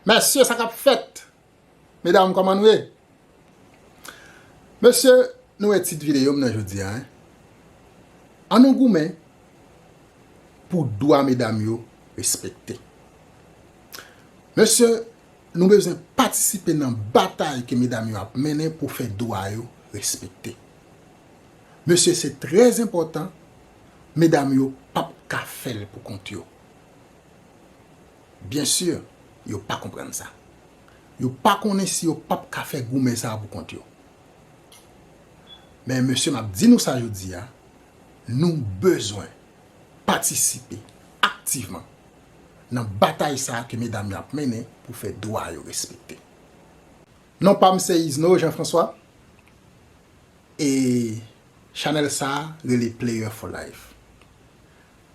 Mesye sa kap fèt medam koman nou ye mesye nou wè tit videom nan jodia hein an nou goumen pou dwa medam yo respekte mesye nou bezwen patisipe nan batay ke medam yo ap mennen pou fè dwa yo respekte mesye se trè enpòtan medam yo pap ka fèl pou kont yo. Bien sûr yo pa konprann sa. Yo pa konnen si yo pap ka fè goumen sa a pou kont yo. Men mesye map di nou sa jodi a, nou bezwen patisipe aktivman nan batay sa a ke medam yo ap mennen pou fè dwa yo respekte. Non pam se Isnor Jean François e chanèl sa a rele Player for life.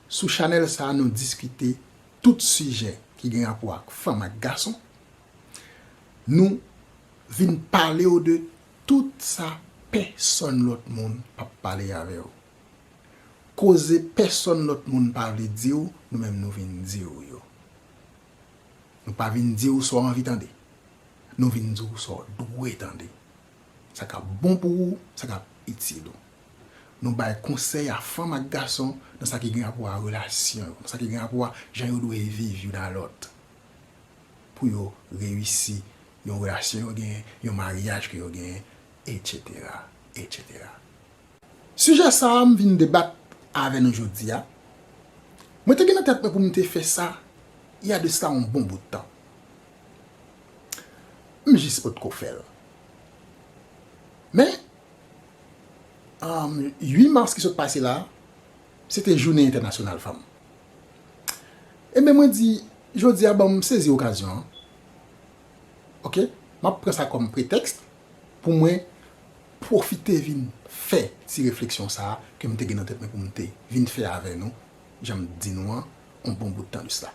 Sou chanèl sa a nou diskite. tout sijè ki gen rapò ak fanm ak gason, nou vin pale w de tout sa pèsòn lòt moun pa p pale avè w. Koze pèsòn lòt moun pa vle di w, nou menm nou vin di w yo. Nou pa vin di w sa w anvi tande, nou vin di w sa w dwe tande. Sa k ap bon pou ou, sa k ap itil ou. Nou bay konsèy a fanm ak gason nan sa ki gen rapò a relasyon yo, nan sa ki gen rapò a jan yo dwe viv youn a lòt pou yo reyisi yon relasyon yo genyen, yon maryaj ke yo genyen, etsetera, etsetera. Sijè sa a m vin debat avè nou jodi a, mwen te gen nan tèt mwen pou m te fè sa y a de sla yon bon bout tan. M jis potko fè l. Men, 8 mas ki sot pase la, se te jounen entènasyonal fanm. Enben mwen di, jodi a banm sezi okazyon an, ok, m ap pran sa kòm pretèks pou mwen pwofite vin fè ti refleksyon sa a ke m te gen nan tèt mwen pou m te vin fè avè nou, jan m t di nou an, yon bon bout tan de sla.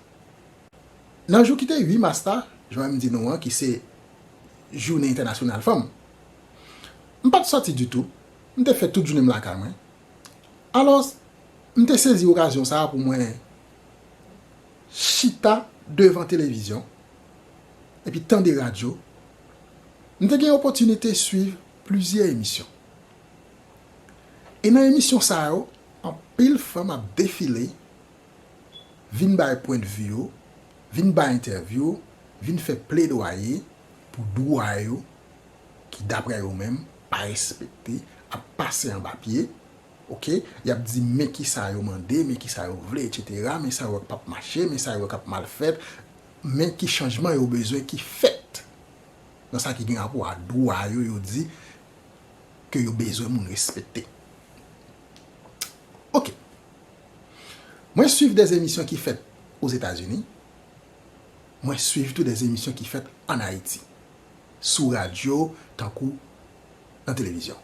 Nan jou ki te 8 mas la, jan mwen di nou an ki se Jounen Entènasyonal Fanm, m pa t sòti ditou, m te fè tout jounen m lakay mwen. Alòs, m te sezi okazyon sa a pou mwen chita devan televizyon epi tande radyo. M te gen opòtinite suiv plizyè emisyon. E nan emisyon sa yo, anpil fanm ap defile. vin bay pwendvi yo, vin bay entèvyou, vin fè pledwaye pou dwa yo ki daprè yo menm pa respekte, ap pase anba pye, ok, y ap di men kisa yo mande, men kisa yo vle etsetera, men sa yo wè k p ap mache, men sa yo wè k ap mal fèt, men ki chanjman yo bezwen ki fèt nan sa ki gen rapò a dwa yo, yo di ke yo bezwen moun respekte. Ok. Mwen swiv des emisyon ki fèt o Zetazini, mwen swiv tou des emisyon ki fèt an Ayiti, sou radyo tankou nan televizyon.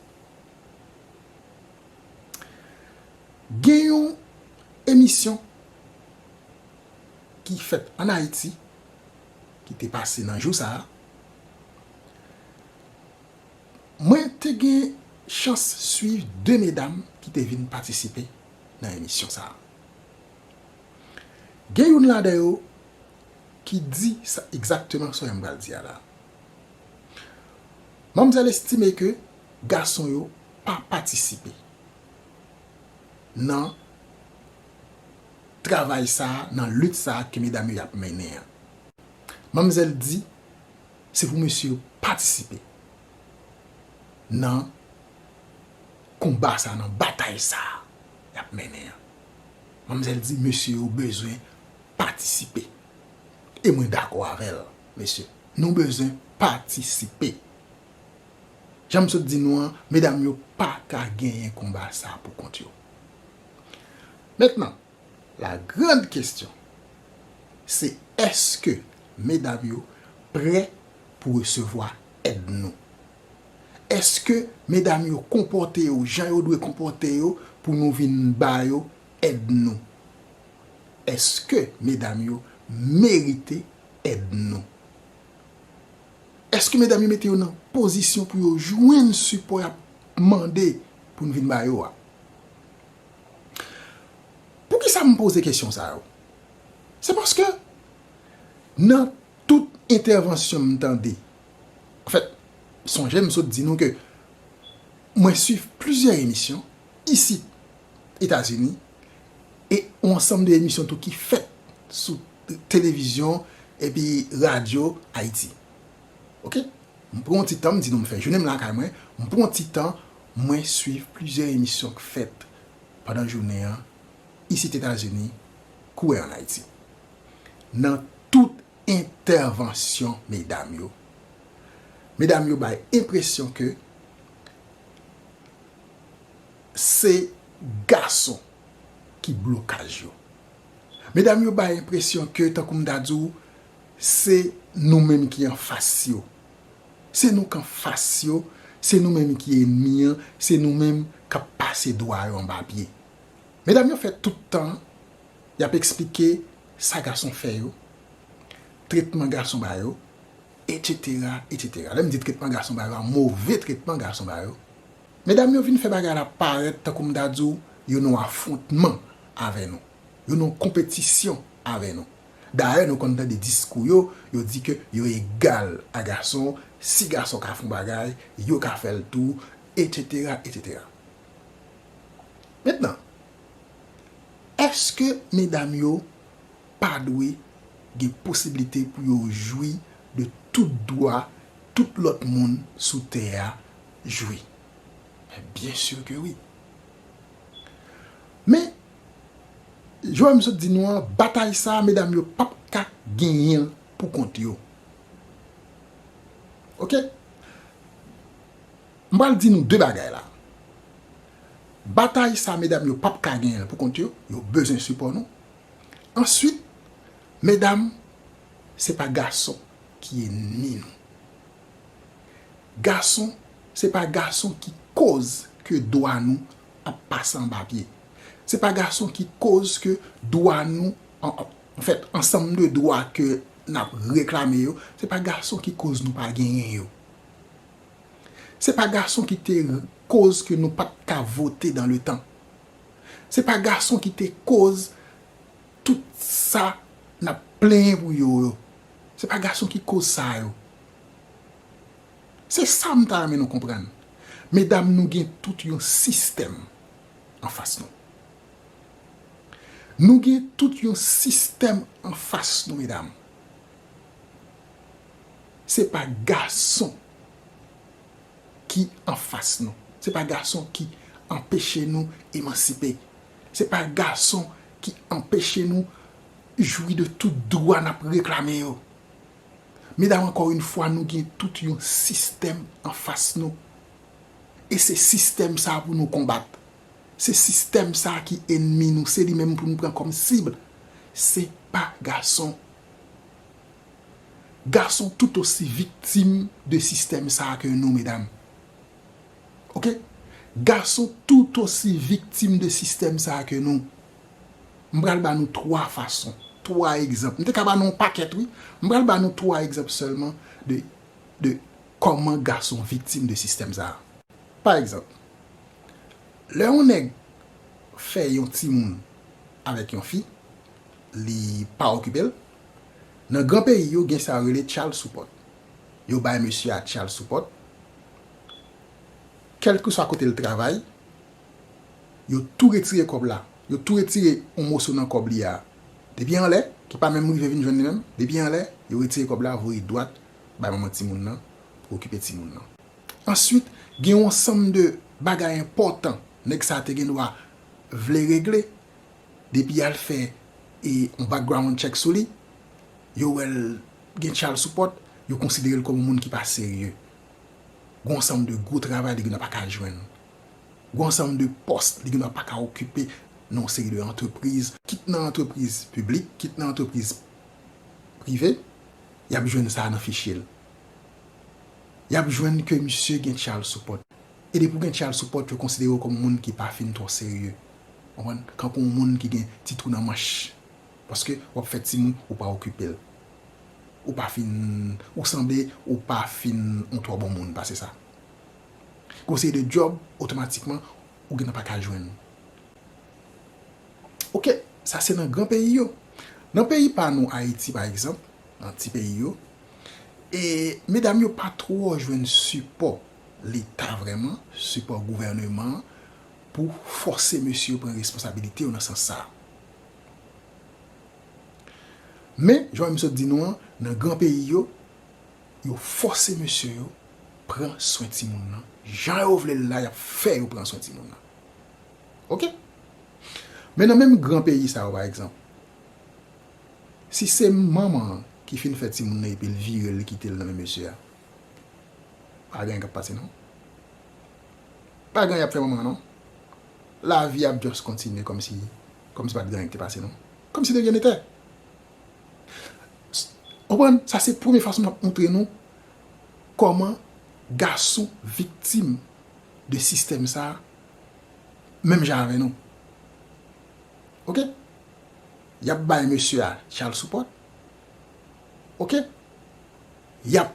Gen yon emisyon ki fèt an Ayiti, ki te pase nan jou sa a, mwen te gen chans swiv 2 medam ki te vin patisipe nan emisyon sa. Gen youn ladan yo ki di sa egzakteman sa m pral di a la. Manmzèl estime ke gason yo pa patisipe nan travay sa, nan lit sa ke medam yo ap mennen an. Manmzèl di se pou mesye yo patisipe. nan konba sa, nan batay sa y ap mennen an. Manmzèl di mesye yo bezwen patisipe. E mwen dakò avè l, mesye. Nou bezwen patisipe. Jan m sot di nou an, medam yo pa ka genyen konba sa pou kont yo. Mentnan, la grand kestyon, se eske medam yo prè pou resevwa èd nou? Èske medam yo konpòte yo jan yo dwe konpòte yo pou nou vin ba yo èd nou? Èske medam yo merite èd nou? Èske medam yo mete yo nan pozisyon pou yo jwenn sipò y ap mande pou nou vin ba yo a? Poukisa m poze kesyon sa yo? Se paske nan Tout entèvansyon m tande. Anfèt, sonje m sot di nou ke mwen swiv plizyè emisyon isit Etazini e yon ansanm de emisyon tou ki fèt sou televizyon epi radyo Ayiti. Ok. M pran yon ti tan, m di nou m fè jounen m lakay mwen, m pran yon ti tan mwen swiv plizyè emisyon k fèt pandan jounen an isit Etazini kou en Ayiti. nan tout entèvansyon medam yo, medam yo bay enpresyon ke se gason ki blokaj yo. Medam yo bay enpresyon ke tankou m ta di w se nou menm ki anfas yo. Se nou k anfas yo, se nou menm ki enmi an, se nou menm k ap pase dwa yo anba pye. Medam yo fè tout tan Y ap eksplike sa gason fè yo, tretman gason ba yo, etsetera, etsetera. Lè m di tretman gason ba yo a, move tretman gason ba yo, medam yo vin fè bagay la parèt tankou m ta di w yo nan yon afwontman avè nou, yo nan yon konpetisyon avè nou. Dayè nou konn tande diskou yo, yo di ke yo egal a gason, si gason ka fè yon bagay, yo ka fè l tou, etsetera, etsetera. Mentnan. Eske medam yo pa dwe gen posiblite pou yo jwi de tout dwa tout lòt moun sou tè a jwi? Men byen sur ke wi. Men, jan m sot di nou an, batay sa a medam yo p ap ka genyen l pou kont yo. Ok? M pral di nou de bagay la. Batay sa medam yo pap ka genyenl pou kont yo, yo bezwen sipò nou. Answit medam se pa gason ki enmi nou. Gason se pa gason ki koz ke dwa nou ap pase anba pye. Se pa gason ki koz ke dwa nou anfèt ansanm de dwa ke nap reklame yo se pa gason ki koz nou pa genyen yo. Se pa gason ki te koz ke nou pat ka vote dan le tan. Se pa gason ki te koz tout sa nap plenyen pou yo yo. Se pa gason ki koz sa yo. Se sa m ta renmen nou konprann. Medam nou gen tout yon sistèm an fas nou. Nou gen tout yon sistèm an fas nou medam. Se pa gason ki anfas nou. Se pa gason ki anpeche nou emansipe. Se pa gason ki anpeche nou jwi de tout dwa n ap reklame yo. Medam ankò yon fwa nou gen tout yon sistèm anfas nou. E se sistèm sa pou nou konbat. Se sistèm sa ki enmi nou. Se li menm pou nou pran kòm sib. Se pa gason. Gason tout osi viktim de sistèm sa a ke nou medam. Ok. Gason tout osi viktim de sistèm sa a ke nou. M pral ba nou 3 fason, 3 egzanp. M te ka ba nou yon pakèt wi. M pral ba nou 3 egzanp sèlman de de kòman gason viktim de sistèm sa a. Pa egzanp, lè yon nèg fè yon timoun avèk yon fi, li pa okipe l. Nan gran peyi yo gen sa yo rele child support. Yo bay mesye a child support. Kèlkeswa kote l travay, yo tou retire kòb la. Yo tou retire yon moso nan kòb li a. Depi anlè, ki pa menm rive vin jwenn li menm, depi anlè, yo retire kòb la voye dwat bay manman timoun nan pou okipe timoun nan. Answit, gen yon ansanm de bagay enpòtan nèg sa a te gendwa vle regle Depi yal fè yon background check sou li, yo wè l gen child support, yo konsidere l kòm yon moun ki pa serye. Gon ansanm de gwo travay li gendwa pa ka jwenn. Gon ansanm de pòs li gendwa pa ka okipe nan yon seri de antrepriz. Kit nan antrepriz piblik, kit nan antrepriz prive, yap jwenn sa nan fichye l. Yap jwenn ke misye gen child support. E depi w gen child support, yo konsidere w kòm yon moun ki pa fin twò serye. Konprann? Kankou yon moun ki gen ti twou nan manch. Paske w ap fè timoun, ou pa okipe l. Ou pa fin, ou sanble ou pa fin yon twò bon moun pase sa. Gen yon seri de djòb, otomatikman, ou gentan pa ka jwenn. Ok, sa se nan gran peyi yo. Nan peyi pa nou Ayiti pa egzanp, nan ti peyi yo, e medam yo pa twò jwenn sipò Leta vrèman, sipò gouvèneman Pou fòse mesye yo pran responsabilite yo nan sans sa. Men, jan mwen sot di nou an, nan gran peyi yo, yo fòse mesye yo pran swen timoun nan, jan yo vle l la y ap fè yo pran swen timoun nan. Ok. Men nan menm gran peyi sa yo pa egzanp, si se manman an ki fin fè timoun nan epi l vire l li kite l nan men mesye a, pa gen anyen k ap pase non. Pa gen anyen yap fè manman an non. Lavi ap just kontinye komsi komsi pat gen anyen ki te pase non. Komsi de ryen netè. Ou konprann? Sa se premye fason map montre nou koman gason viktim de sistèm sa menm jan avè nou. Ok. Yap bay mesye a child support. Ok. Yap.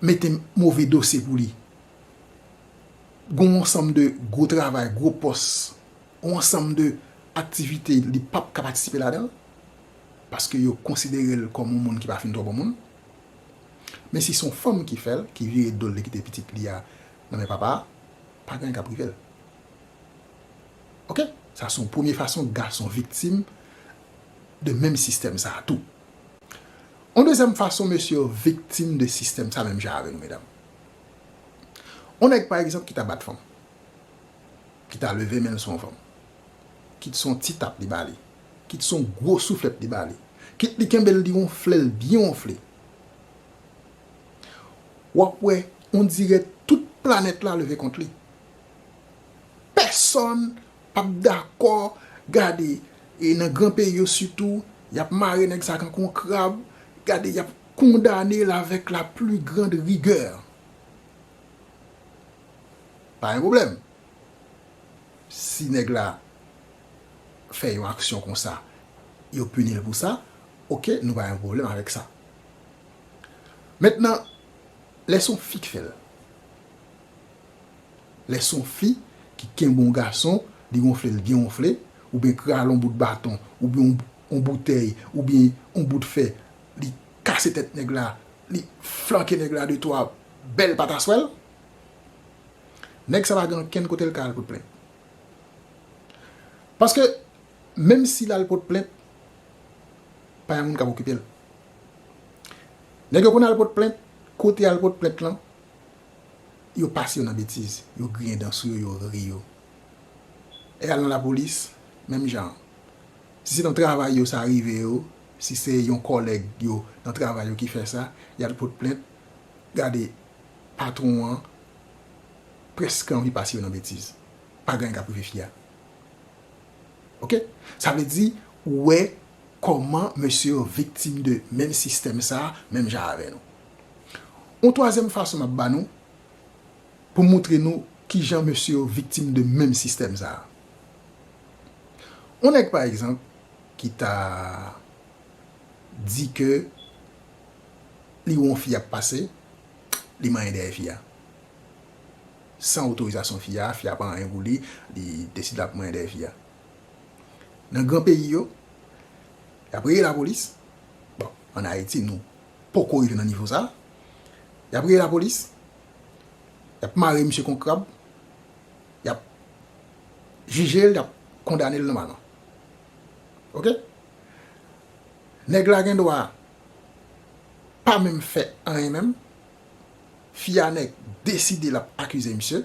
mete move dosye pou li. Gon yon sanm de gwo travay, gwo pòs, gon yon sanm de aktivite li pap ka patisipe ladan l, paske yo konsidere l kòm yon moun ki pa fin twò bon moun. Men si son fanm ki fè l, ki vire do l li kite pitit li a nan men papa a, pa gen anyen kap rive l. Ok, sa son premye fason gason viktim de menm sistèm sa tou. On dezyèm fason mesye yo viktim de sistèm sa menm jan avè nou medam. On nèg pa egzanp ki ta bat fanm, ki ta leve men l sou on fanm, kit se on ti tap li ba li, kit se on gwo souflèt li ba li, kit li kenbe l li wonfle l byen wonfle, w ap wè on dirè tout planèt la leve kont li. Pèsòn. pap dakò gade e nan gran peyi yo sitou yap mare nèg sa tankou yon krab gade yap kondanel avèk la pli grand rigè pa gen problèm si nèg la fè yon aksyon konsa yo punil pou sa ok nou pa gen problèm avèk sa mentnan lè son fi k fèl. Lè son fi ki kenbe on gason li wonfle l byen wonfle oubyen krale on bout baton oubyen on boutèy oubyen on bout fè li kase tèt nèg la li flanke nèg la de twa bèl pataswèl nèg sa pa gen ankenn kote l ka al pot plent paske menm si l al pot plent pa yon moun k ap okipe l nèg yo konn al pot plent kote al pot plent lan yo pase yo nan betiz, yo griyen dan sou yo, yo ri yo. E al nan lapolis, menm jan an. Si se nan travay yo sa rive yo, si se yon kòlèg yo nan travay yo ki fè sa, y al pot plent, gade patwon an prèske anvi pase yo nan betiz. Pa gen anyen k ap rive fi a. Ok? Sa vle di, ou wè kòman mesye yo viktim de menm sistèm sa a, menm jan avè nou. Yon twazyèm fason m ap ba nou pou m moutre nou ki jan mesye yo viktim de menm sistèm sa a. Yon nèg pa egzanp ki ta di ke li wè yon fi ap pase, li manyen dèyè fi a. San otorizasyon fi a, fi a pa anyen pou li, li deside l ap manyen dèyè fi a. Nan gran peyi yo, y ap rele lapolis, bon, ann Ayiti nou poko rive nan nivo sa, yap rele lapolis, yap mare misye kon krab, yap jije l, yap kondane l nòmalman. Ok? Nèg la gen dwa pa menm fè anyen menm, fi a nèk deside lap akize misye,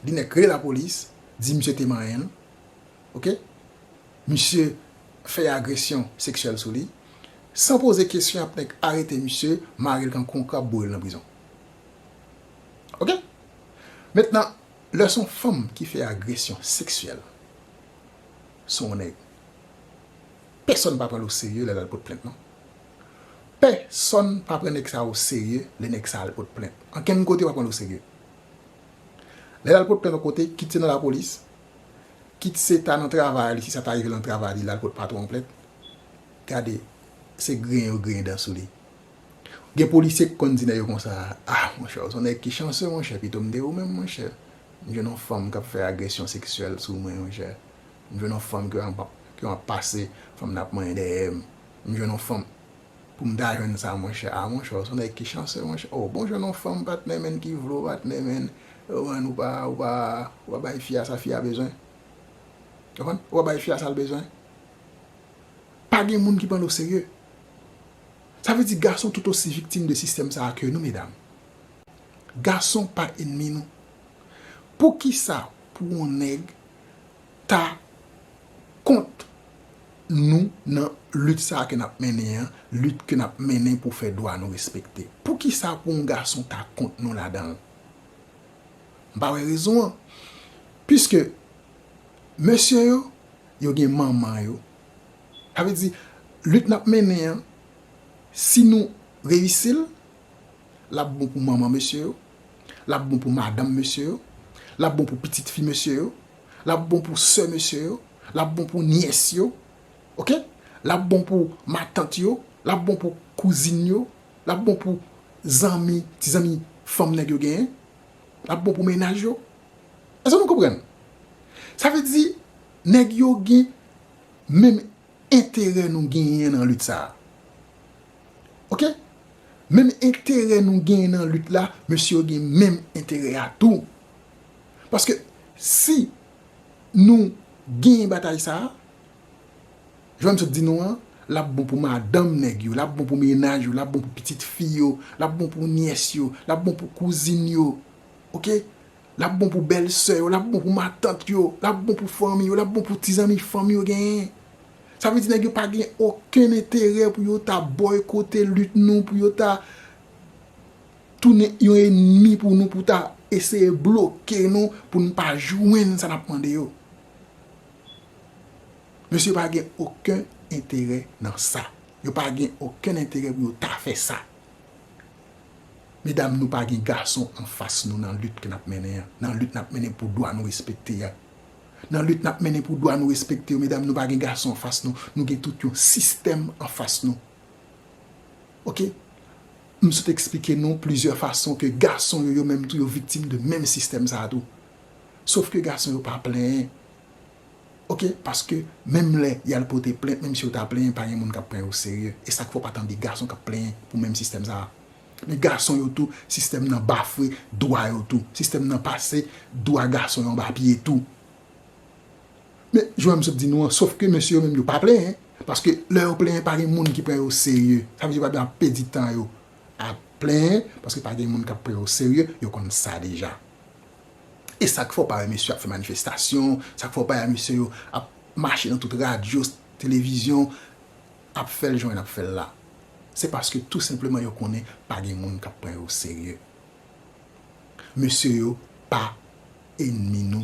li nèk rele lapolis, di misye te manyen l, ok? Misye fè agresyon seksyèl sou li. San poze kesyon yap nèk arete misye marel kan kon krab bourel nan prizon ok mentnan lè son fanm ki fè agresyon seksyèl sou yon nèg pèsòn pa pranl oserye lèl al pot plent non pèsòn pa pran nèg sa oserye lè nèg sa al pot plent ankenn kote yo pa pranl oserye lèl al pot plent yon kote kit se nan lapolis kit se ta nan travay li si sa ta rive nan travay li lal pot patwon an plent Gade, se griyen yo griyen dan sou li. Gen polisye ki konn di nèg yo konsa, ah monchè, ou son nèg ki chanseu monchè, pito m te ou menm monchè. M jwenn on fanm k ap fè agresyon seksyèl sou mwen monchè. M jwenn on fanm ke m ap pase, fanm nan ap manyen dèyè m. M jwenn on fanm, pou m ta jwenn sa monchè, ah monchè, ou son nèg ki chanseu monchè. O, bon jwenn on fanm patnè menn ki vle w patnè menn, ou konprann, ou pa, ou pa, ou pa bay fi a sa fi a bezwen. Ou konprann? Ou pa bay fi a sa l bezwen. Pa gen moun ki pran l o serye. Sa vle di gason tout osi viktim de sistèm sa a ke nou medam. Gason pa enmi nou. Poukisa pou yon nèg ta kont nou nan lit sa a ke n ap mennen an, lit ke n ap mennen pou fè dwa nou respekte? Poukisa pou yon gason ta kont nou ladan l? M pa wè rezon an. Piske Mesye yo, yo gen manman yo. Sa vle di, lit n ap mennen an, si nou reyisi l, l ap bon pou manman mesye yo, l ap bon pou madanm mesye yo, l ap bon pou pitit fi mesye yo, l ap bon pou sè mesye yo, l ap bon pou nyès yo, ok, l ap bon pou matant yo, l ap bon pou kouzin yo, l ap bon pou zanmi, ti zanmi fanm nèg yo genyen, l ap bon pou mennaj yo, Èske nou konprann? Sa vle di, nèg yo gen menm enterè nou genyen nan lit sa a. Ok? Menm enterè nou genyen nan lit la, mesye yo gen menm enterè a tou. Paske, si nou genyen batay sa a, jan m sot di nou an, l ap bon pou madanm nèg yo, l ap bon pou menaj yo, l ap bon pou pitit fi yo, l ap bon pou nyès yo, l ap bon pou kouzin yo. Ok lap bon pou bèl sè yo lap bon pou matant yo lap bon pou fanmi yo lap bon pou ti zanmi fanm yo genyen sa vle di nèg yo pa gen okenn enterè pou yo ta bòykote lit nou pou yo ta tounen yon enmi pou nou pou ta eseye bloke nou pou nou pa jwenn sa nap mande yo mesye yo pa gen okenn enterè nan sa yo pa gen okenn enterè pou yo ta fè sa. Medam nou pa gen gason anfas nou nan lit ke nap mennen an, nan lit nap mennen pou dwa nou respekte a. Nan lit nap mennen pou dwa nou respekte yo medam nou pa gen gason anfas nou, nou gen tout yon sistèm anfas nou. Ok, m sot eksplike nou plizyè fason ke gason yo yo menm tou yo viktim de menm sistèm sa a tou. Sof ke gason yo pa plenyen. ok paske menm lè yal pote plent menm si yo ta plenyen pa gen moun kap pran yo oserye esak fè w pa tande gason kap plenyen pou menm sistèm sa men gason yo tou sistèm nan bafwe dwa yo tou sistèm nan pase dwa gason yo anba pye tou men jan m sot di nou an sof ke mesye yo menm yo pa plenyen paske lè yo plenyen pa gen moun ki pran yo oserye sa vle di yo pa bzwen ap pèdi tan yo ap plenyen paske pa gen moun kap pran yo oserye yo konn sa deja. E sak fè w pa wè mesye ap fè manifestasyon, sak fè w pa wè mesye yo ap mache nan tout radyo, televizyon, ap fè l jan y ap fè l la? Se paske tou senpleman yo konnen pa gen moun k ap pran yo o serye. Mesye yo pa enmi nou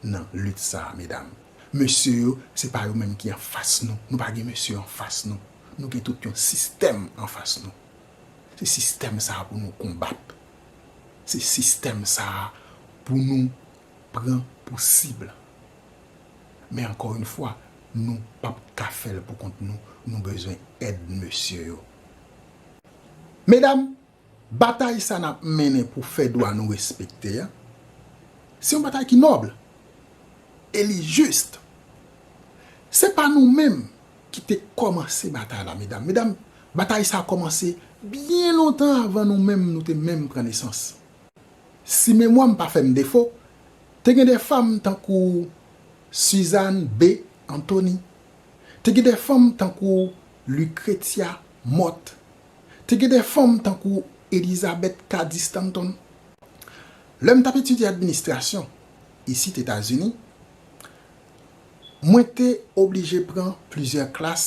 nan lit sa a medam. Mesye yo se pa yo menm ki anfas nou. Nou pa gen mesye anfas nou. Nou gen tout yon sistèm anfas nou. Se sistèm sa a pou nou konbat. Se sistèm sa a pou nou pran pou sib. Men ankò yon fwa, nou p ap ka fè l pou kont nou, nou bezwen èd mesye yo. Medam, batay sa n ap mennen pou fè dwa nou respekte a, se yon batay ki nòb e li jis. Se pa nou menm ki te kòmanse batay la medam. Medam, Batay sa a kòmanse byen lontan avan nou menm nou te menm pran nesans. Si memwa m pa fè m defo, te gen de fam tankou Suzanne B. Anthony, te gen de fanm tankou Lucretia Mott, te gen de fanm tankou Elizabeth Cady Stanton. Lè m t ap etidye administrasyon isit Etazini, mwen te oblije pran plizyè klas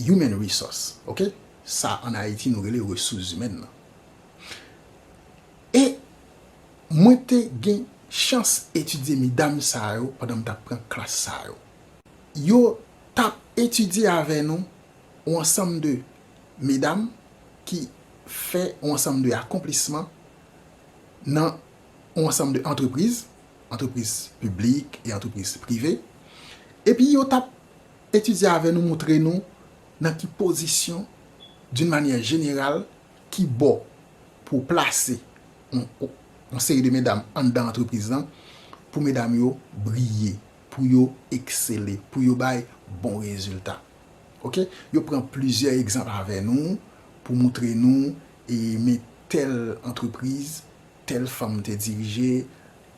Human resource ok sa an ayiti nou rele resous zimèn nan e mwen te gen chans etidye medam sa yo pandan m t ap pran klas sa yo yo t ap etidye avè nou yon ansanm de medam ki fè yon ansanm de akonplisman nan yon ansanm de antrepriz antrepriz piblik e antrepriz prive epi yo t ap Etidye avè nou moutre nou nan ki pozisyon, d'une manière générale, ki bò pou w plase yon seri de medam anndan antrepriz lan pou medam yo briye, pou yo eksele, pou yo bay bon rezilta. Ok. Yo pran plizyè egzanp avè nou pou moutre nou e men tèl antrepriz, tèl fanm te dirije,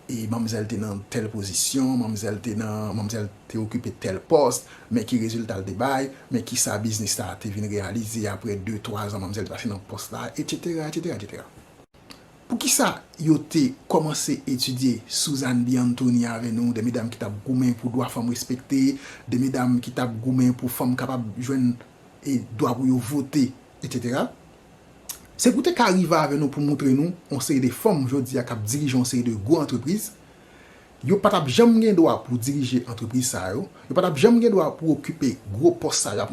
e manmzèl te nan tèl pozisyon, manmzèl te nan, manmzèl te okipe tèl pòs, men ki rezilta l te bay, men kisa biznis sa a te vin reyalize apre de, twa zan manmzèl te pase nan pòs la, etsetera, etsetera, etsetera. Poukisa yo te kòmanse etidye Suzanne B. Anthony avè nou, de medam ki t ap goumen pou dwa fanm respekte, de medam ki t ap goumen pou fanm kapab jwenn dwa pou yo vote, etsetera? Se pou te ka rive avè nou pou moutre nou yon seri de fanm jodi a k ap dirije yon seri de gwo antrepriz. Yo pa t ap janm gen dwa pou dirije antrepriz sa yo. Yo pa t ap janm gen dwa pou okipe gwo pòs sa yo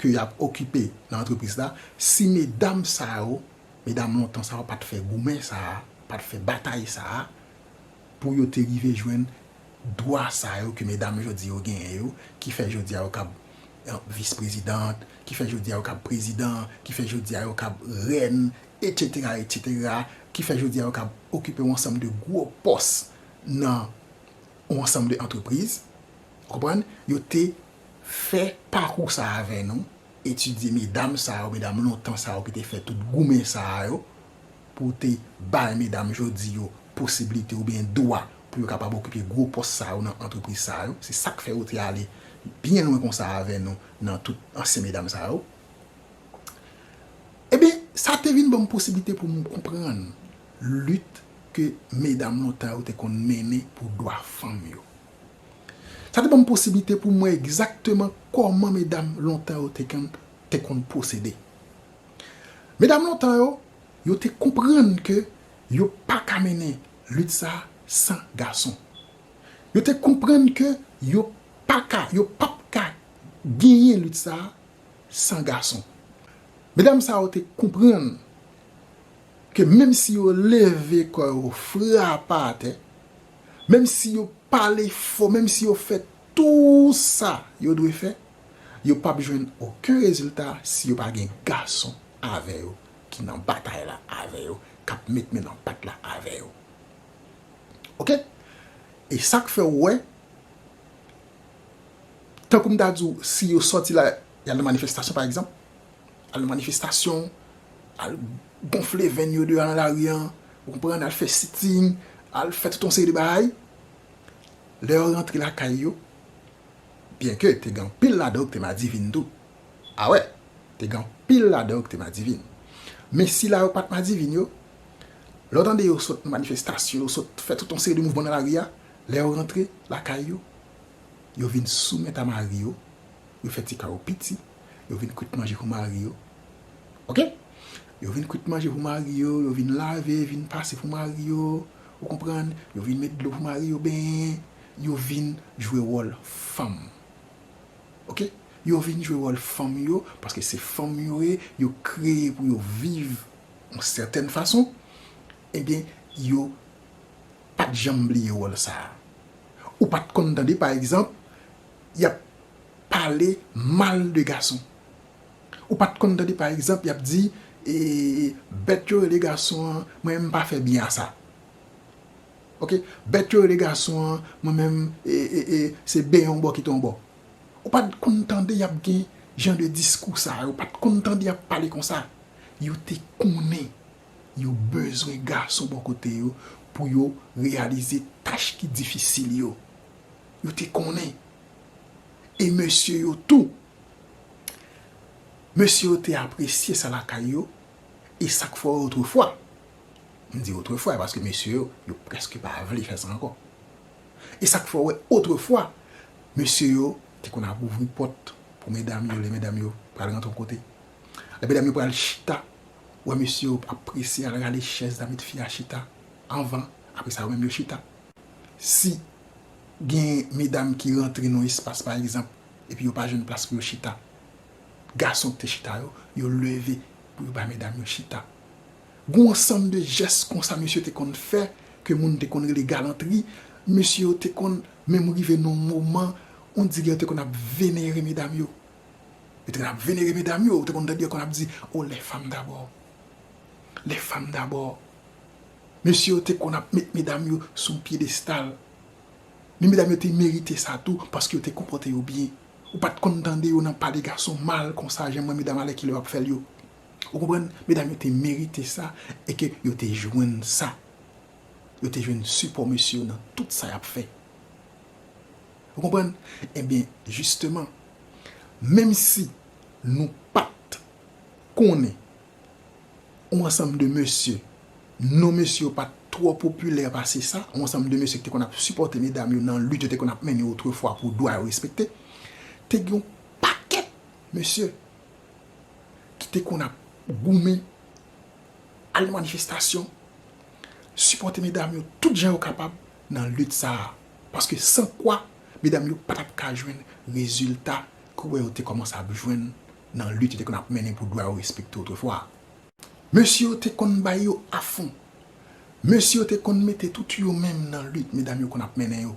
ke y ap okipe nan antrepriz la si medam sa yo, medam lontan sa yo pa t fè goumen sa a, pa t fè batay sa a pou yo te rive jwenn Dwa sa yo ke medam jodi yo genyen yo, ki fè jodi a yo kab vis prezidant, ki fè jodi a yo kab prezidan, ki fè jodi a yo kab rèn, etsetera, etsetera, ki fè jodi a yo kab okipe yon ansanm de gwo pòs nan yon ansanm de antrepriz, ou konprann, yo te fè pakou sa avè nou, etidye medam sa yo, medam lontan sa yo ki te fè tout goumen sa yo, pou w te bay medam jodi yo posiblite oubyen dwa pou yo kapab okipe gwo pòs sa yo nan antrepriz sa yo, se sa k fè ou te ale byen lwen konsa avè nou nan tout ansyen medam sa yo. Ebyen, sa te vin ban m posiblite pou m konprann lit ke medam lontan yo te konn mennen pou dwa fanm yo. Sa te ban m posiblite pou m wè egzakteman kòman medam lontan yo te konn pwosede. Medam lontan yo, yo te konprann ke yo pa ka mennen lit sa a san gason. Yo te konprann ke yo pa ka, yo p ap ka genyen lit sa a san gason. Medam sa yo te konprann ke menm si yo leve kò yo fra pa atè, menm si yo pale fò, menm si yo fè tou sa yo dwe fè, Yo pap jwenn oken rezilta si yo pa gen gason avè yo ki nan batay la avè yo, k ap met men nan pat la avè yo. Ok! E sa k fè ou wè, tankou m ta di ou, si yo sòti la, y al nan manifestasyon pa egzanp, al nan manifestasyon, al gonfle venn yo deyò nan lari an, ou konprann, al fè sitting, al fè tout yon seri de bagay, lè yo rantre lakay yo, Byenke te gen anpil ladan yo ki te madivin tou. Awè, te gen anpil ladan yo ki te madivin. Men sila yo pa t madivin yo, lè w tande yo sot nan manifestasyon, yo sot fè tout yon seri de mouvman nan lari a, lè yo rantre lakay yo, yo vin soumèt a mari yo, yo fè ti kay yo piti, yo vin kwit manje pou mari yo. Oke? Yo vin kwit manje pou mari yo, yo vin lave, vin pase pou mari yo. Ou konprann? Yo vin met dlo pou mari yo benyen. yo vin jwe wòl fanm ok yo vin jwe wòl fanm yo paske se fanm yo ye yo kreye pou yo viv yon sètèn fason ebyen yo pat janm bliye wòl sa ou pat konn tande pa egzanp yap pale mal de gason ou pat konn tande pa egzanp yap di ee bèt yo rele gason an mwen menm pa fè byen a sa. Ok bèt yo rele gason an mwen menm ee se ben yon bò kite yon bò ou pat konn tande yap gen jan de diskou sa yo ou pat konn tande yap pale konsa yo te konnen yo bezwen gason bò kote yo pou yo reyalize tach ki difisil yo yo te konnen e mesye yo tou mesye yo te apresye sa lakay yo e sak fò otrefwa. M di otrefwa e paske mesye yo, yo prèske pa vle fè sa ankò. E sa k fè w wè otrefwa, mesye yo te konn ap ouvri pòt pou medam yo lè medam yo pral rantre yon kote. Lè medam yo pral chita, ou wè mesye yo ap prese al rale chèz la met fi a chita anvan, apre sa yo menm yo chita. Si gen medam ki rantre nan yon espas pa egzanp epi yo pa jwenn plas pou yo chita, gason ki te chita yo, yo leve pou yo bay medam yo chita. Gon ansanm de jès konsa mesye te konn fè ke moun te konn rele galantri, mesye yo te konn menm rive nan yon moman on dire yo te konn ap venere medam yo. Yo te konn ap venere medam yo, ou te konn tande yo konn ap di, oh les femmes d'abord, les femmes d'abord. Mesye yo te konn ap met medam yo sou yon pyedestal. Men medam yo te merite sa tou paske yo te konpòte yo byen. Ou pa t konn tande yo nan pale gason mal konsa jan mwen medam alèkile w ap fè l yo. Ou konprann? Medam yo te merite sa e ke yo te jwenn sa. Yo te jwenn sipò mesye yo nan tout sa y ap fè. Ou konprann? Ebyen, jisteman, menm si nou pa t konnen yon ansanm de mesye, non mesye yo pa t twò popilè pase sa, yon ansanm de mesye ki te konn ap sipòte medam yo nan lit yo te konn ap mennen otrefwa pou dwa yo respekte, te gen yon pakèt mesye ki te konn ap goumen, al nan manifestasyon, sipòte medam yo tout jan yo kapab nan lit sa a. Paske san kwa, medam yo pa t ap ka jwenn rezilta ke w wè yo te kòmanse ap jwenn nan lit yo te konn ap mennen pou dwa yo respekte otrefwa a. Mesye yo te konn bay yo afon. Mesye yo te konn mete tout yo menm nan lit medam yo konn ap mennen yo.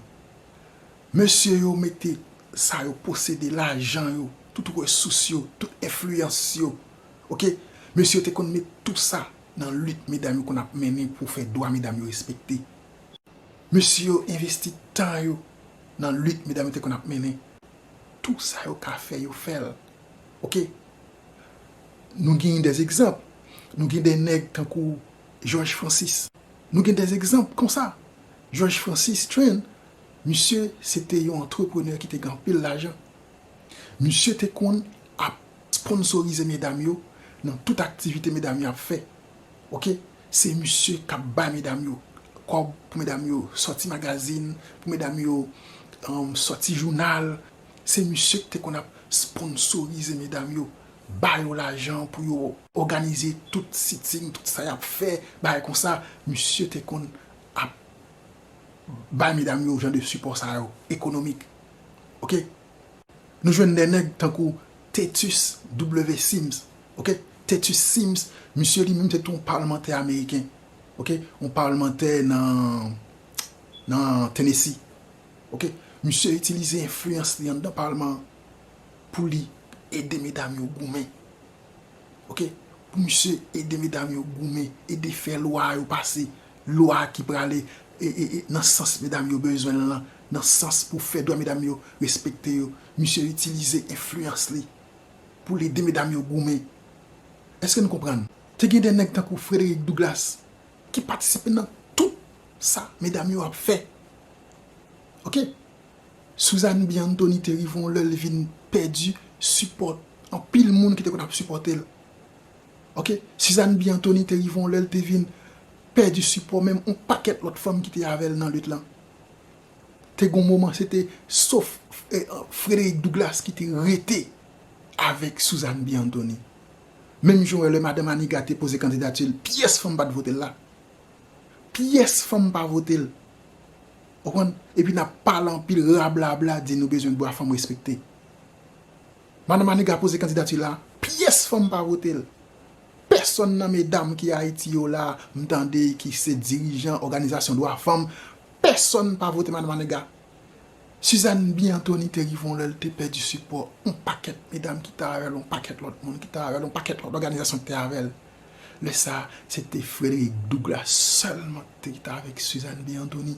Mesye yo mete sa yo posede, lajan yo, tout resous yo, tout enfliyans yo, ok, mesye yo te konn met tou sa nan lit medam yo konn ap mennen pou fè dwa medam yo respekte. Mesye yo envesti tan yo nan lit medam yo te konn ap mennen. Tou sa yo ka fè, yo fè l, ok. Nou genyen dè egzanp, nou gen dè nèg tankou Jòj Francis. Nou gen dè egzanp konsa. Jòj Francis Train. Misye se te yon antreprenè ki te gen anpil lajan. Misye te konn ap sponsorize medam yo nan tout aktivite medam yo ap fè. Ok, se misye k ap bay medam yo kòb pou medam yo sòti magazin, pou medam yo sòti jounal. Se misye ki te konn ap sponsorize medam yo, ba yo lajan pou yo òganize tout sitting, tout sa y ap fè, bagay konsa. Misye te konn ap bay medam yo jan de sipò sa yo ekonomik ok nou jwenn de nèg tankou Tetus W Sims ok Tetus Sims misye li menm se tou yon palmantè ameriken ok yon palmantè nan nan Tennessi ok misye itilize enfliyans li anndan palman an pou li ede medam yo goumen ok pou misye ede medam yo goumen ede fè lwa yo pase Lwa ki prale nan sans medam yo bezwen l lan, nan sans pou fè dwa medam yo respekte yo, misye itilize enfliyans li pou l ede medam yo goumen. Eske nou konprann? Te gen de nèg tankou Frederick Douglas ki patisipe nan tout sa medam yo ap fè. Ok. Suzanne B. Anthony te rive yon lè li vin pèdi sipò anpil moun ki te konn ap sipòte l. Ok, Suzanne B. Anthony te rive yon lè li te vin pèdi sipò menm yon pakèt lòt fanm ki te avè l nan lit lan. Te gen yon moman se te sof Frederick Douglass ki te rete avèk Suzanne B. Anthony. Menm jan w wè lè Madan Manigat te poze kandidati l, pyès fanm pa t vote l la. Pyès fanm pa vote l. Ou konprann? Epi n ap pale anpil rablabla di nou bezwen dwa fanm respekte. Madan Maniga poze kandidati la pyès fanm pa vote l. Pèsòn nan medam ki Ayiti yo la m tande ki se dirijan òganizasyon dwa fanm, pèsòn pa vote Madan Maniga. Suzanne B. Antony te rive yon lè l te pèdi sipò yon pakèt medam ki te avè l, yon pakèt lòt moun ki te avè l, yon pakèt lòt òganizasyon ki te avè l. Lè sa a, se te Frederick Douglass sèlman ki te avèk Suzanne B. Antony.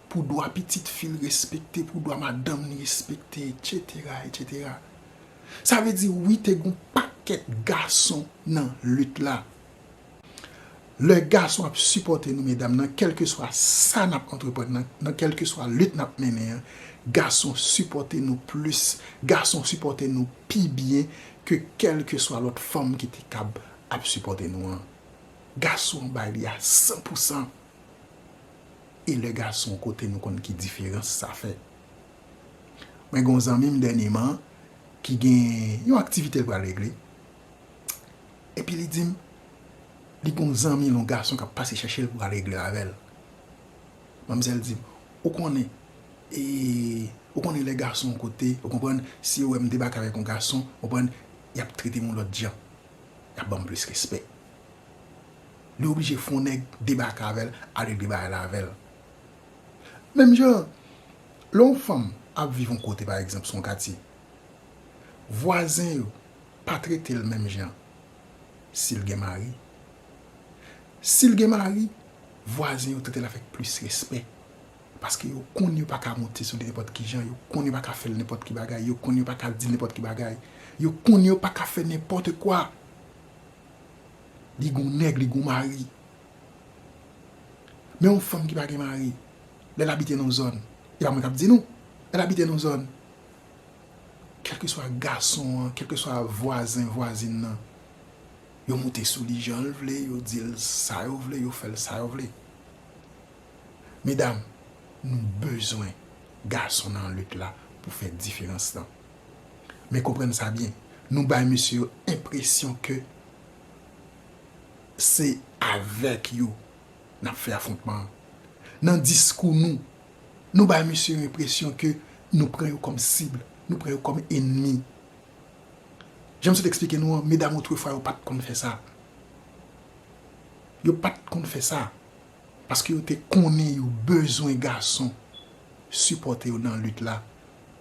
pou dwa pitit fi l respekte, pou dwa madanm li respekte, etsetera, etsetera. Sa vle di wi te gen yon pakèt gason nan lit la. Lè gason ap sipòte nou medam nan kèlkeswa sa n ap antreprann nan, nan kèlkeswa lit n ap mennen an, gason sipòte nou plis, gason sipòte nou pi byen ke kèlkeswa lòt fanm ki te kab ap sipòte nou an. Gason an bay li a san pou san. e lè gason kote nou konn ki diferans sa fè mwen gen yon zanmi m dènyeman ki gen yon aktivite l pral regle epi li di m li gen yon zanmi l yon gason k ap pase chèche l pou al regle avè l manmzèl di m ou konnen e ou konnen lè gason kote ou konprann si yo wè m debake avèk yon gason konprann y ap trete m yon lòt jan y ap ban m plis respè. li oblije fon nèg debake avèl a regle bagay la avèl menm jan lè yon fanm ap viv yon kote pa egzanp son katye vwazen yo pa tretel menm jan sil gen mari sil gen mari vwazen yo tretel avèk plis respè paske yo konn yo paka monte sou li nenpòt kijan yo konn yo paka fèl nenpòt ki bagay yo konn yo paka dil nenpòt ki bagay yo konn yo paka fè nenpòt kwa. Li gon nèg, li gon mari. Men yon fanm ki pa gen mari, lè l abite nan yon zòn, e pa mwen k ap di nou, lè l abite nan yon zòn, kèlkeswa gason an, kèlkeswa vwazen, vwazin nan, yo moute sou li jan l vle, yo di l sa yo vle, yo fè l sa yo vle. Medam, nou bezwen gason nan lit la pou fè diferans lan. Men konprann sa byen, nou bay mesye yo enpresyon ke Se avèk yo n ap fè afwontman an. Nan diskou nou, nou bay misye yon enpresyon ke nou pran yo kòm sib, nou pran yo kòm enmi. Jan m sot eksplike nou an, medam otrefwa yo pa t konn fè sa. Yo pa t konn fè sa, paske yo te konnen yo bezwen gason sipòte yo nan lit la,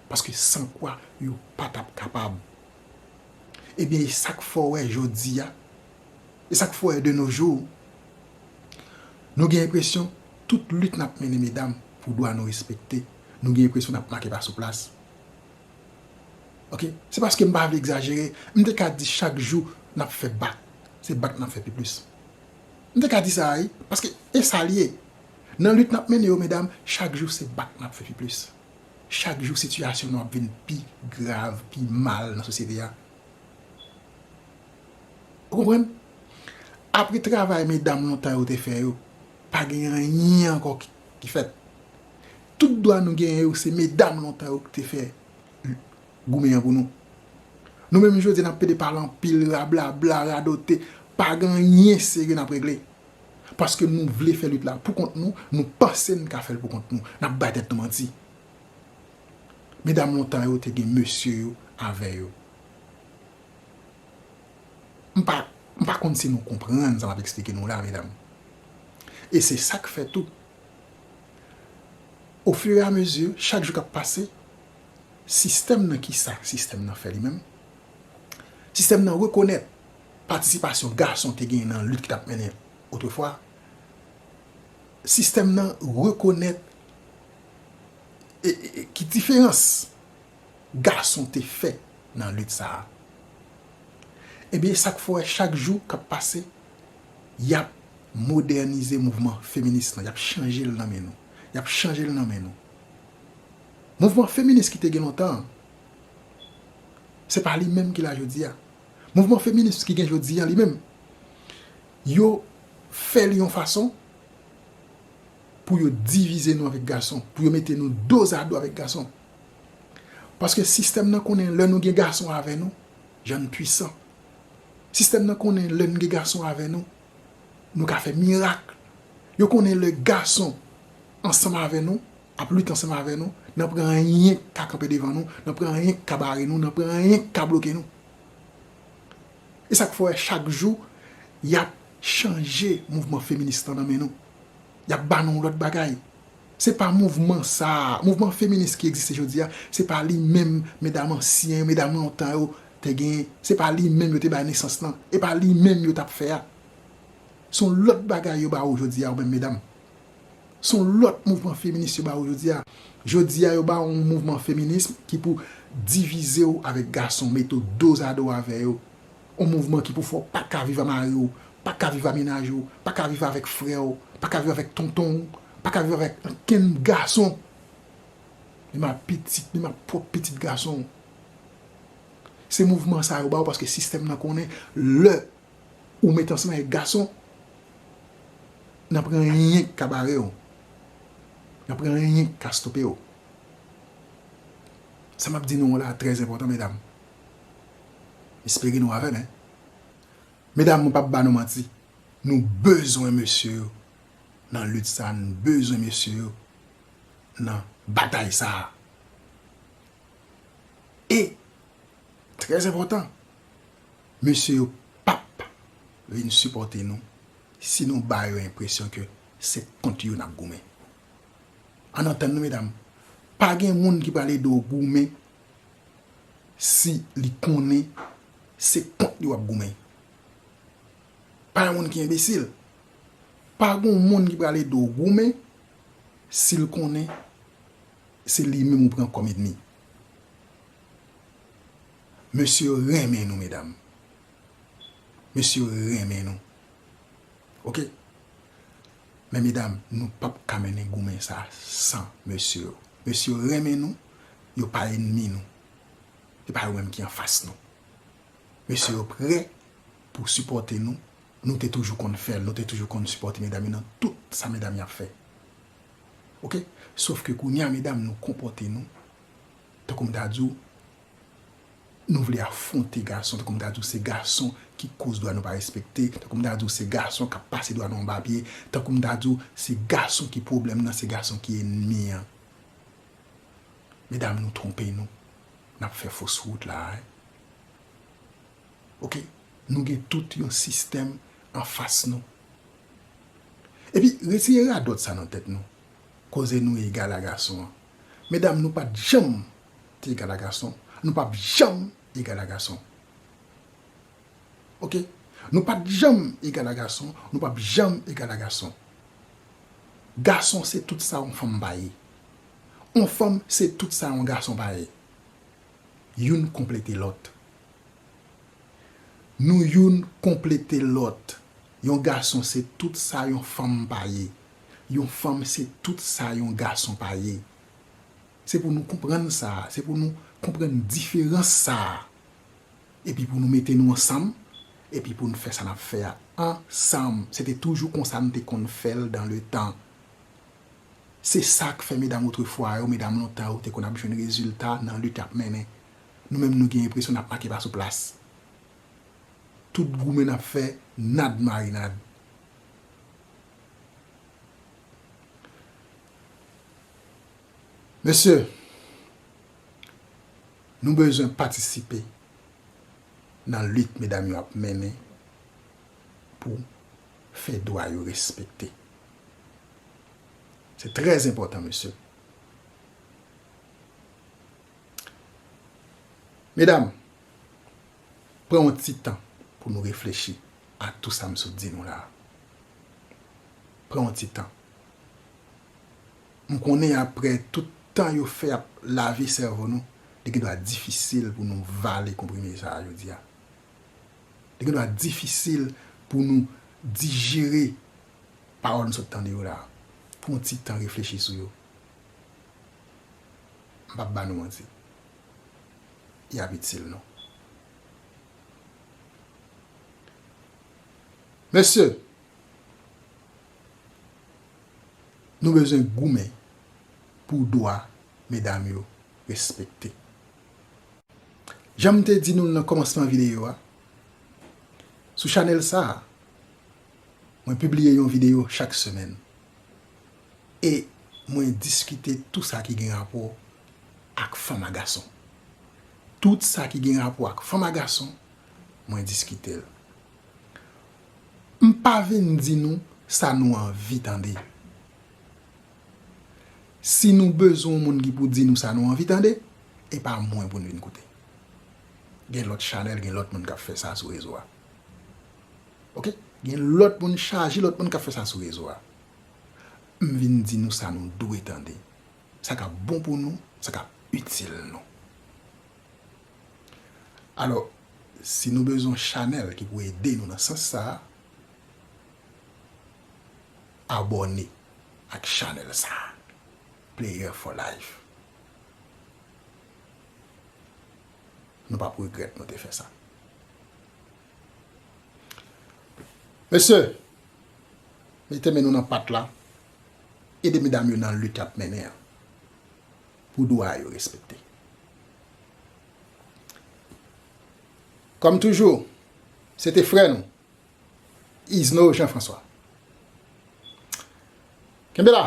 paske san kwa yo pa t ap kapab. Ebyen e sak fè w wè jodi a, e sak fè w wè de nos jours, nou gen enpresyon tout lit n ap mennen medam pou dwa nou respekte, nou gen enpresyon n ap make pa sou plas. Ok, se paske m pa vle egzajere, m te ka di chak jou n ap fè bak, se bak n ap fè pi plis. M te ka di sa a wi, paske e sa l ye. Nan lit n ap mennen yo medam, chak jou se bak n ap fè pi plis. Chak jou sitiyasyon nou ap vin pi grav, pi mal nan sosyete a. Ou konprann? Apre travay medam lontan yo te fè yo, pa gen anyen ankò ki fèt. Tout dwa nou genyen yo se medam lontan yo ki te fè goumen an pou nou. Nou menm jodi a n ap pede pale anpil, rablabla, radote, pa gen anyen serye n ap regle. Paske nou vle fè lit la pou kont nou, nou panse n ka fè l pou kont nou. N ap bay tèt nou manti. Medam lontan yo te gen mesye yo avè yo. M pa, m pa konn si nou konprann sa m ap eksplike nou la, medam. E se sa k fè tou, ofireamezi, chak jou k ap pase, sistèm nan ki sa sistèm nan fè li menm? Sistèm nan rekonèt patisipasyon gason te genyen nan lit ki t ap mennen otrefwa, sistèm nan rekonèt ki diferans gason te fè nan lit sa a. Ebyen, sa k fè wè chak jou k ap pase, y ap modènize mouvman feminis lan, y ap chanje l nan men nou, y ap chanje l nan men nou. Mouvman feminis ki te gen lontan an, se pa li menm ki la jodi a. Mouvman feminis ki gen jodi a li menm, yo fè li yon fason pou yo divize nou avèk gason, pou yo mete nou dozado avèk gason. Paske sistèm nan konnen lè nou gen gason avè nou, jan n pwisan. Sistèm nan konnen lè n gen gason avè nou, nou ka fè mirak. Yo konnen lè gason ansanm avè nou, ap lit ansanm avè nou, nan pran anyen k ka kanpe devan nou, nan pran anyen k ka bare nou, nan pran anyen k ka bloke nou. E sa k fè w wè chak jou y ap chanje mouvman feminis lan nan men nou. Y ap ba nou yon lòt bagay. Se pa mouvman sa a, mouvman feminis ki egziste jodi a, se pa li menm medam ansyen yo, medam lontan yo te gen, se pa li menm yo te bay nesans lan, e pa li menm yo t ap fè a. Se yon lòt bagay yo ba ou jodi a ou menm medam. Se yon lòt mouvman feminis yo ba ou jodi a. Jodi a yo ba ou yon mouvman feminism ki pou divize ou avèk gason, mete ou dozado avè yo. Yon mouvman ki pou fè ou pa ka viv a mari ou, pa ka viv a mennaj ou, pa ka viv avèk frè ou, pa ka viv avèk tonton ou, pa ka viv avèk ankenn gason, menm a pitit, menm a pwòp pitit gason ou. Se mouvman sa yo ba ou paske sistèm nan konnen lè Ou met ansanm avèk gason nan pran anyen ki ka bare w nan pran anyen ki ka stope w sa map di nou an la trè enpòtan medam m espere nou avèm hein medam mwen pap ba nou manti nou bezwen mesye yo nan lit sa nou bezwen mesye yo nan batay sa e trè enpòtan. Mesye yo pap vin sipòte nou si nou ba yo enpresyon ke se kont yo nap goumen. Ann antann nou medam, pa gen moun ki pral ede w goumen si li konnen se kont li wap goumen. Pa yon moun ki enbesil. Pa gon moun ki pral ede w goumen si l konnen se li menm ou pran kòm edmi. Mesye yo renmen nou medam. Mesye yo renmen nou ok men medam nou pap ka mennen goumen sa san mesye yo. Mesye yo renmen nou yo pa enmi nou e pa yo menm ki anfas nou. Mesye yo prè pou sipòte nou, nou te toujou konn fèl, nou te toujou konn sipòte medam yo nan tout sa medam yo ap fè ok sof ke kounya medam nou konpòte nou tankou m ta di w. Nou vle afwonte gason tankou m ta di w se gason ki koz dwa nou pa respekte, tankou m ta di w se gason k ap pase dwa nou anba pye, tankou m ta di w se gason ki pwoblèm nan, se gason ki enmi an. Medam nou twonpe nou, n ap fè fos wout la a. Ok, nou gen tout yon sistèm anfas nou. Epi retire radòt sa nan tèt nou, koze nou egal a gason an. Medam nou pat janm te egal a gason, nou pap janm egal a gason. Ok. Nou pat janm egal a gason, nou pap janm egal a gason. Gason se tout sa yon fanm pa ye. Yon fanm se tout sa yon gason pa ye. Youn konplete lòt. Nou youn konplete lòt. Yon gason se tout sa yon fanm pa ye. Yon fanm se tout sa yon gason pa ye. Se pou nou konprann sa a, se pou nou konprann diferans sa a, epi pou nou mete nou ansanm, epi pou nou fè sa n ap fè a ansanm. Se te toujou konsa nou te konn fè l dan le tan. Se sa k fè medam otrefwa yo, medam lontan yo te konn ap jwenn rezilta nan lit y ap mennen. Nou menm nou gen enpresyon n ap make pa sou plas. Tout goumen n ap fè, nad marinad. Mesye, nou bezwen patisipe nan lit medam yo ap mennen pou fè dwa yo respekte. Se trè enpòtan mesye. Medam. Pran yon ti tan pou nou reflechi a tou sa m sot di nou la a. Pran yon ti tan. M konnen aprè tout tan yo fè ap lave sèvo nou, li gen dwa difisil pou nou vale konprime sa a jodi a. Li gen dwa difisil pou nou dijere pawòl m sot tande yo la a. Pran yon ti tan reflechi sou yo. M p ap ba nou manti. y ap itil nou. Mesye, nou bezwen goumen pou dwa medam yo respekte. Jan m te di nou nan kòmansman videyo a, sou chanèl sa a, mwen pibliye yon videyo chak semèn. E mwen diskite tou sa ki gen rapò ak fanm a gason. Tout sa ki gen rapò ak fanm a gason, mwen diskite l. M pa vin di nou sa nou anvi tande. Si nou bezwen yon moun ki pou di nou sa nou anvi tande, e pa mwen pou n vin koute. Gen lòt chanèl, gen lòt moun k ap fè sa sou rezo a. Ok? Gen lòt moun chaje lòt moun k ap fè sa sou rezo a. M vin di nou sa nou dwe tande, sa k ap bon pou nou, sa k ap itil nou. Alò, si nou bezwen yon chanèl ki pou ede nou nan sans sa a, abòne ak chanèl sa a, Player for Life. Nou p ap regrèt nou te fè sa. Mesye, mete men nou nan pat la, ede medam yo nan lit y ap mennen an pou dwa yo respekte. Kòm toujou, se te frè nou, Izno Jean François. Kenbe la!